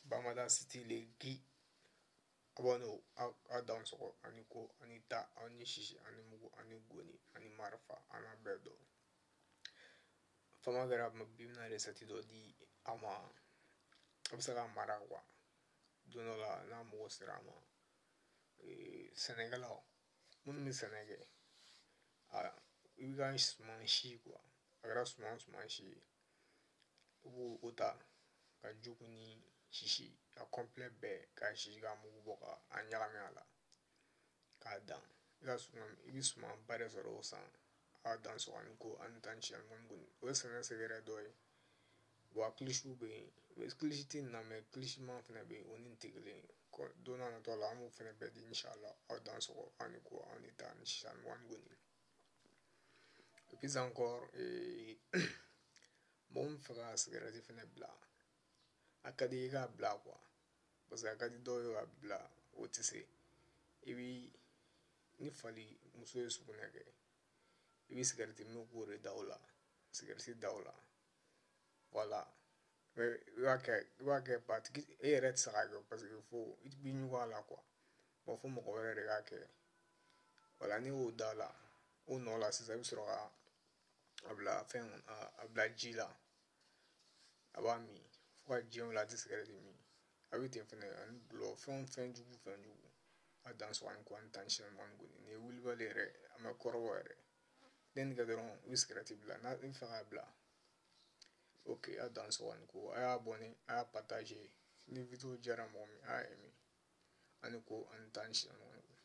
bamada siti le gi abɔnɔ a dansɔgɔ ani ko ani ta ani sisi ani mugu ani ngɔni ani marifa an n'a bɛɛ dɔn fama kɛra bi n bɛna resɛti dɔ di a ma a bɛ se k'a mara kuwa don dɔ la n'a mago sera a ma sɛnɛkɛlaw minnu bɛ sɛnɛ kɛ i ka suman si kuwa a kɛra suman suman si ye u b'o o ta ka jugunin sisi a kɔnplɛ bɛɛ k'a sisi k'a mugu bɔ ka a ɲagami a la k'a dan i bɛ suman ba de sɔrɔ o san a dansɔgɔ ani ko ani ta ni sisi mugu ni kɔni o ye sɛnɛ sɛgɛrɛ dɔ ye wa kilisiw bɛ yen kilisi tɛ nin na mɛ kilisiman fana bɛ yen o ni tɛ kelen don nataw la an b'o fana bɛɛ di inshallah aw dansɔgɔ ani ko ani ta ni sisi ani mugu ani kɔni Et puis encore mɔgɔ min fɛ ka sigɛrɛti fana bila a ka di i k'a bila quoi parce que a ka di dɔw ye k'a bila o tɛ se i bɛ ni fali muso ye sugunɛ kɛ i bɛ sigɛrɛti min k'o de da o la sigɛrɛti da o la voilà i b'a kɛ batigi yɛrɛ tɛ se k'a kɛ parce que fo i bɛ ɲugun a la quoi Bon fo mɔgɔ wɛrɛ de k'a kɛ voilà n'i y'o da la o nɔ la sisan i bɛ sɔrɔ ka a bila fɛn a bila ji la a b'a min fo ka diɲɛ wuli a tɛ sigɛrɛti min a bɛ ten fɛnɛ ani dɔlɔ fɛn fɛn jugu fɛn jugu a dansɔgɔ ani ko ani ta ni sisi ani mugu ni kɔni nin ye wulibali yɛrɛ a ma kɔrɔbɔ yɛrɛ n'i nin kɛ dɔrɔn i bɛ sigɛrɛti bila n'i b'a fɛ k'a bila ok a dansɔgɔ ani ko a y'abɔne a y'a pataze ni video diyara mɔgɔ min a y'a aimer ani ko ani ta ni sisi mugu ni kɔni